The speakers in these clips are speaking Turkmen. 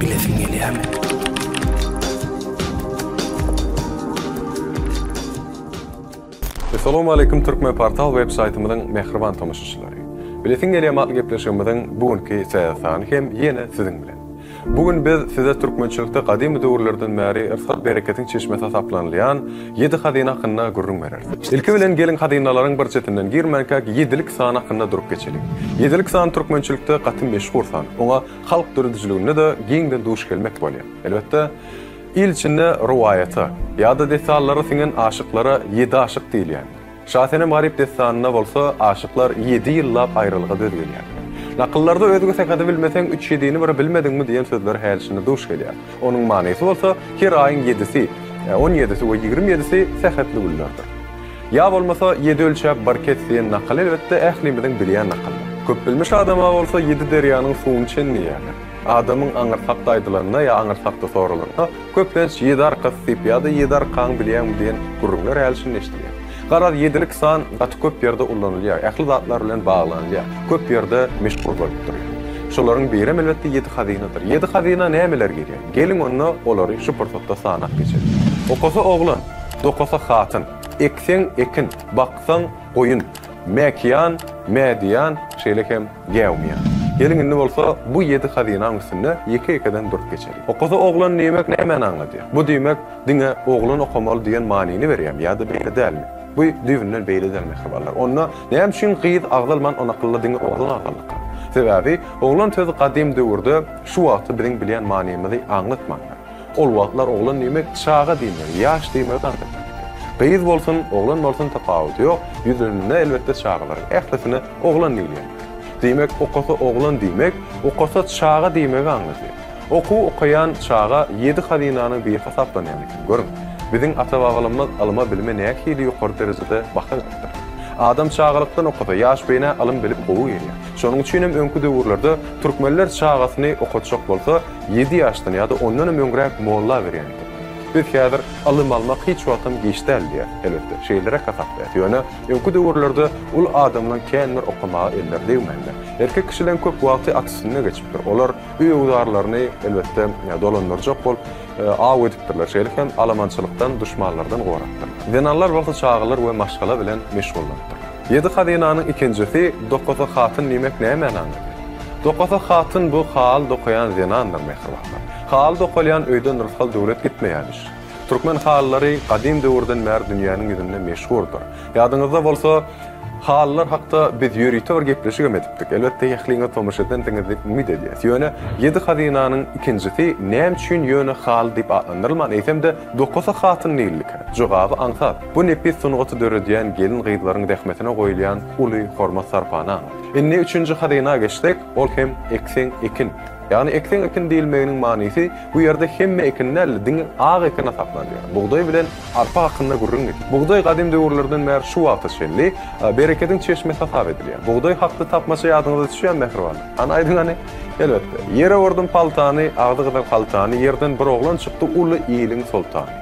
Bilesiň gelýärmi? Essalamu aleýkum Türkmenportal web saýtymyzyň mähriban tomaşaçylary. Bilesiň gelýärmi atly gepleşigimiziň bu günki täze sany hem ýene siziň bilen. Bu gün biz size türkmençilikde gadymy döwürlerden bäri yrsat-bereketiň çeşmesi hasaplanylýan Ýedi hazyna hakynda gürrüň bereris. Ilki bilen geliň hazynalaryň bir çetinden girmänkäk ýedilik san hakynda durup geçeliň. Ýedilik san türkmençilikde gaty meşhur san. Oňa halk döredijiliginde-de giňden duş gelmek bolýar. Elbetde, il içinde rowaýata, ýa-da dessallara siňen aşyklara ýedi aşyk diýilýändir. Şasenem Garyp dessanynda bolsa aşyklar ýedi ýyllap aýralyga döz gelýär. Nakyllarda özge sekazy bilmeseň üç ýedini bir bilmediňmi diýen sözler häli-şindi duş gelýär. Onuň manysy bolsa her aýyň ýedisi, on ýedisi we ýigrimi ýedisi sähetli günlerdir. Ýa bolmasa ýedi ölçäp bir kes diýen nakyl elbetde ählimiziň bilýän nakylymyz. Köpbilmiş adama bolsa ýedi derýanyň suwuny çenleýärler. Adamyň aňyrsakda aýdylanda ýa aňyrsakda soralanda Köplenç Ýedarkas diýip ýa-da Ýedarkan bilýäňmi diýen gürrüňler häli-şindi eşidilýär. Garaz, ýedilik san gaty köp ýerde ullanylýar, ähli zatlar bilen baglanylýar, köp ýerde meşhur bolup durýar. Şolaryň birem elbetde ýedi hazynadyr. Ýedi hazyna nämeler girýär? Geliň onda olary şu pursatda sanap geçeliň. Okasa oglan, dokasa hatyn, ekseň ekin, baksaň goýun, mäkiýan, mädiýan, şeýle hem. Geomiýa. Geliň indi bolsa bu ýedi hazynaň üstünde ýeke-ýekeden durup geçeliň. Okasa oglan diýmek nämäni aňladýar? Bu diýmek diňe oglan okamaly diýen manyny berýärmi ýa-da beýle dälmi? Bu düýbünden beýle däl mähribanlar. Onda näme üçin gyz agzalman on akylda diňe oglan agzaldyka? Sebäbi oglan sözi gadym döwürde şu wagtky biziň bilýän manymyzy aňlatmandyr. Ol wagtlar oglan diýmek çaga diýmek, ýaş diýmek artyk. Gyz bolsun, oglan bolsun tapawudy ýok, ýüzünde elbetde çagalaryň ählisine oglan diýilýär. Diýmek okasa oglan diýmek, okasa çaga diýmegi aňladýar. Okuw okaýan çaga ýedi hazynanyň biri hasaplanýan eken. Görüň, biziň ata-babalarymyz ylyma bilime nähili ýokary derejede baha beripdir. Adam çagalykdan okasa, ýaş beýnä ylym-bilim gowy gelýär. Şonuň üçinem öňki döwürlerde türkmenler çagasyny okatjak bolsa, Ýedi ýaşdan ýa-da ondan hem öňräk molla berýändir. Biz häzir ylym almak hiç wagtam giç däl diýýäs. Elbetde, şeýleräk hasaplaýas. Ýöne öňki döwürlerde uly adamlaň känbir okamaga elleri degmändir. Erkek kişileň köp wagty at üstünde geçipdir. Olar öýügüzarlaryny, elbetde, dolandyrjak bolup, aw edipdirler. Şeýle hem alamançylykdan, duşmanlardan gorapdyrlar. Zenanlar bolsa çagalar we maşgala bilen meşgullanypdyr. Ýedi hazynanyň ikinjisi Dokasa hatyn diýmek näme mänany? Dokasa hatyn bu haly dokaýan zenandyr Mähriban han. Haly dokalýan öýden rysgal döwlet gitmeýämiş. Türkmen halylary gadym döwürden bäri dünýäniň ýüzünde meşhurdyr. Ýadyňyzda bolsa halylar hakda biz ýörite bir gepleşigem edipdik. Elbetde ähliňiz tomaşa edensiňiz diýip umyt edýäs. Ýöne ýedi hazynanyň ikinjisi näme üçin ýöne haly diýip atlandyrylman eýsem-de Dokasa hatyn diýildikä? Jogaby aňsat. Bu nepis sungaty döredýän gelin-gyzlaryň zähmetine goýulýan uly hormat-sarpany aňladýar. Indi üçünji hazyna geçsek, ol hem ekseň ekin. Ýagny ekseň ekin diýilmeginiň manysy bu ýerde hemme ekin däl-de, diňe ak ekin hasaplanylýar. Bugdaý bilen arpa hakynda gürrüň getir. Bugdaý gadym döwürlerden bäri şu wagta çenli berekediň çeşmesi hasap edilýär. Bugdaý hakda tapmaça ýadyňyza düşýärmi, mähribanlar? Hany aýdyň hany? Elbetde. Ýere urdum paltany, agzy gyzyl haltany, ýerden bir oglan çykdy, uly iliň soltany.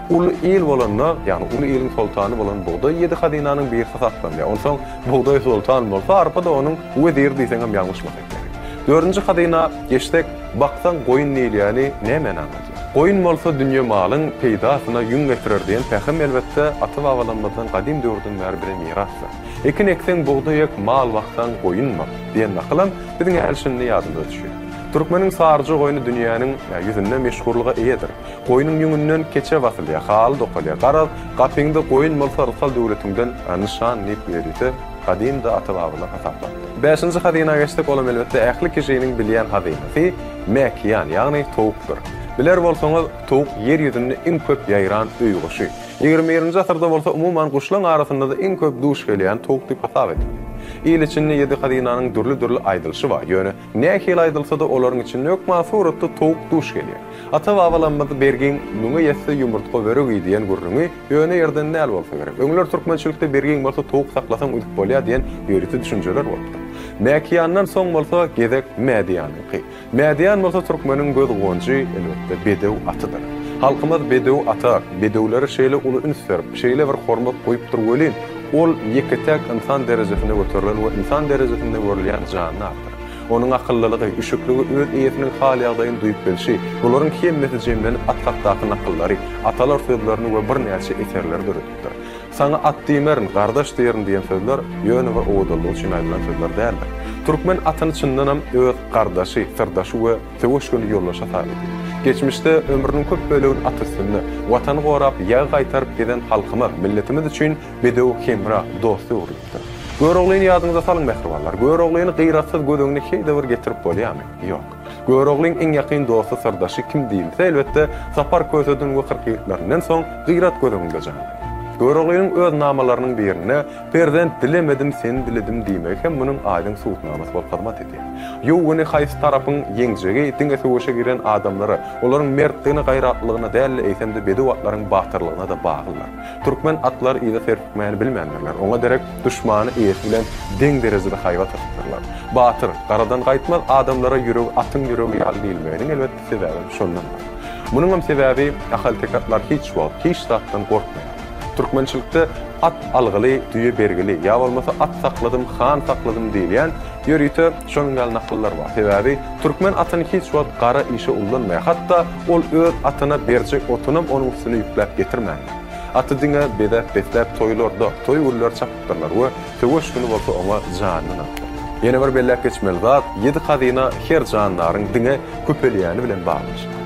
Uly il bolanda, ýagny uly iliň soltany bolan bugdaý ýedi hazynanyň birisi saklanýar. Onsoň bugdaý soltan bolsa, arpa-da onuň weziri diýseň hem ýalňyşmasak gerek. Dördünji hazyna geçsek, Baksaň goýun diýilýäni nämäni aňladýar? Goýun bolsa dünýe malyň peýdasyna ýüň getirer diýen pähim elbetde ata-babalarymyzdan gadym döwürden bäri bize mirasdyr. Ekin ekseň bugdaý ek, mal baksaň goýun bak diýen nakylam biziň ählişindi ýadymyza düşýär. Türkmeniň saryja goýny dünýäniň ýüzünde meşhurlyga eýedir. Goýnuň ýüňünden keçe basylýar, haly dokalýar. Garaz, gapyňda goýun bolsa rysgal döwletiňden nyşan diýip ýörite gadymda ata-babalar hasaplapdyr. Bäşinji hazyna geçsek, olam elbetde ähli kişiniň bilýän hazynasy, mäkiýan, ýagny towukdyr. Biler bolsaňyz, towuk ýer ýüzünde iň köp ýaýran öý guşy. Ýigrimi birinji asyrda bolsa umuman guşlaň arasynda-da iň köp duş gelýän towuk diýip hasap edildi. Il içinde ýedi hazynanyň dürli-dürli aýdylyşy bar, ýöne Nähili aýdylsa-da, olaryň içinde hökman suratda towuk duş gelýär. Ata-babalarymyz Bergiň müňe ýetse ýumurtga börügi diýen gürrüňi ýöne ýerden däl bolsa gerek. Öňler türkmençilikde Bergiň bolsa towuk saklasaň üzüp bolýar diýen ýörite düşünjeler bolupdyr. Mäkiýandan soň bolsa gezek Mädiýanyňky. Mädiýan bolsa türkmeniň göz guwanjy, elbetde, bedew atydyr. Halkymyz bedew ata, bedewlere şeýle uly üns berip, şeýle bir hormat goýupdyr welin, Ol ýeke-täk ynsan derejesinde göterilen we ynsan derejesinde görülýän janly atdyr. Onuň akyllylygy, üşükligi, öz eýesiniň hal-ýagdaýyny duýup bilşi, bularyň hemmesi jemlenip at hakdaky nakyllary, atalar sözlerini we birnäçe eserleri döredipdir. Saňa at diýmerin, gardaş diýerin diýen sözler ýöne bir owadanlygy üçin aýdylan sözler däldir. Türkmen atyny çyndanam öz gardaşy, syrdaşy we. Söweş göni ýoldaş hasap edýär. Geçmişde ömrüniň köp bölegini at üstünde, Watany gorap, ýag gaýtaryp gezen halkymyz, milletimiz üçin bedew hemra, dost öwrülipdir. Göroglyny ýadyňyza salyň, mähribanlar! Göroglyny gyratsyz göz öňüne heýde bir getirip bolýarmy? Ýok. Göroglyň iň ýakyn dosty, syrdaşy kim diýilse, elbetde, Sapar Köseden we Kyrkýigitlerinden soň, gyrat göz öňünde janlanýar. Göroglynyň öz namalarynyň birinde, Perzent dilemedim seni diledim diýmegi hem munuň aýdyň subutnamasy bolup hyzmat edýär. Ýowgeny haýsy tarapyň ýeňjegi diňe söweşe giren adamlara, olaryň mertligine gaýratlylygyna däl-de eýsem-de bedew atlaryň batyrlygyna-da baglydyr. Türkmen atlary yza serpikmäni bilmändirler, oňa derek duşmany eýesi bilen deň derejede haýbat atypdyrlar. Batyr, garadan gaýtmaz adamlara ýüregi atyň ýüregi ýaly diýilmeginiň elbetde sebäbem şondandyr. Munuňam sebäbi ahalteke atlar hiç wagt hiç zatdan gorkmaýar. Türkmençilikde At algyly, düýe bergili ýa bolmasa At sakladym, han sakladym diýilýän ýörite şonuň ýaly nakyllar bar. Sebäbi türkmen atyny hiç wagt gara işe ullanmaýar. Hatda ol öz atyna berjek otunam onuň üstüne ýükläp getirmändir. Aty diňe bezäp-besläp toýlarda, toý günleri çapypdyrlar we Söweş güni bolsa oňa janyny gatdy. Ýene bir belläp geçmeli zat, ýedi hazyna her jandaryň diňe köpelýäni bilen baglanyşykly.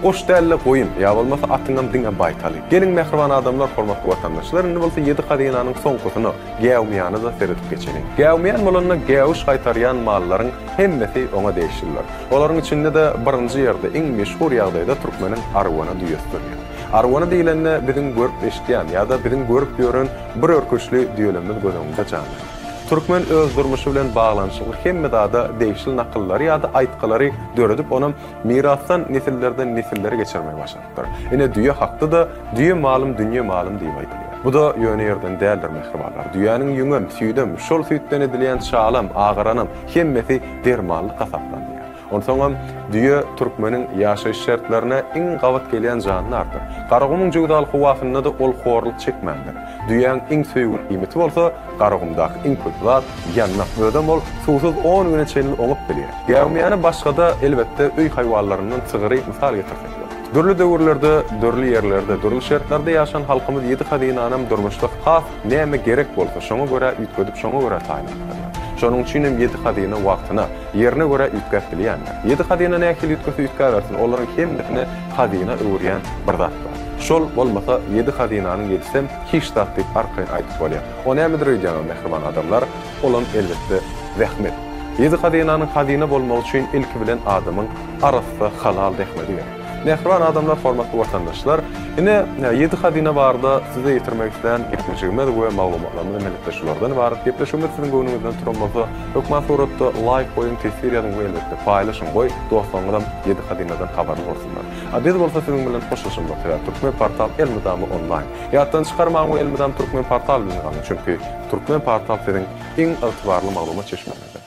Goş däl-de goýun, ýa bolmasa atyňam diňe baýtaly. Geliň mähriban adamlar, hormatly watandaşlar, indi bolsa ýedi hazynanyň soňkusyna, gäwmiýana-da seredip geçeliň. Gäwmiýan bolanda gäwüş gaýtarýan mallaryň hemmesi oňa degişlidir. Olaryň içinde-de birinji ýerde, iň meşhur ýagdaýda türkmeniň arwana düýesi durýar. Arwana diýlende biziň görüp-eşidýän ýa-da biziň görüp ýören Bir örküçli düýelemimiz göz öňünde janlanýar. Türkmen öz durmuşy bilen baglanyşykly hemme zada degişli nakyllary ýa-da aýtgylary döredip, ony mirasdan nesillerden nesillere geçirmegi başarypdyr. Ine, düýe hakda-da, Düýe malym, dünýe malym diýip aýdylýar. Bu-da ýöne ýerden däldir, mähribanlar. Düýäniň ýüňem, süýdem, şol süýtden edilýän şalam, agaranam, hemmesi dermanlyk hasaplanylýar. Onsoňam, düýe türkmeniň ýaşaýyş şertlerine iň gabat gelýän jandardyr. Garagumuň jöwzaly howasynda-da ol horluk çekmändir. Düýäň iň söýgüli iýmiti bolsa, Garagumdaky iň köp zat, ýandak. Özem ol suwsuz on güne çenli oňup bilýär. Gäwmiýany başga-da, elbetde, öý haýwanlaryndan sygyry mysal getirsek bolar. Dürli döwürlerde, dürli ýerlerde, dürli şertlerde ýaşan halkymyz ýedi hazynanam durmuşda has Näme gerek bolsa, şoňa görä üýtgedip, şoňa görä taýynlapdyrlar. Şonuň üçin hem ýedi hazyna wagtyna, ýerine görä üýtgäp bilýändir. Ýedi hazyna nähili üýtgese üýtgäbersin, olaryň hemmesini hazyna öwürýän bir zat bar. Şol bolmasa, ýedi hazynanyň ýedisem hiç zat diýip arkaýyn aýdyp bolýar. O nämedir öýdýäňiz, mähriban adamlar? Olam, elbetde, zähmet. Ýedi hazynanyň hazyna bolmagy üçin ilki bilen adamyň arassa, halal zähmedi gerek. Mähriban adamlar hormatly watandaşlar ine ýedi hazyna barada size ýetirmek islän gepleşigimiz we maglumatlarymyz endilikde şulardan ybarat gepleşigimiz siziň göwnüňizden turan bolsa hökman suratda laýk goýuň teswir ýazyň we elbetde paýlaşyň goý dostlaryňyzam ýedi hazynadan habarly bolsunlar a biz bolsa siziň bilen hoşlaşalmak sebäp türkmen portal elmydama onlaýn ýatdan çykarmaň we elmydam türkmen portal bilen galyň çünki türkmen portal siziň iň ygtybarly maglumat çeşmäňizdir.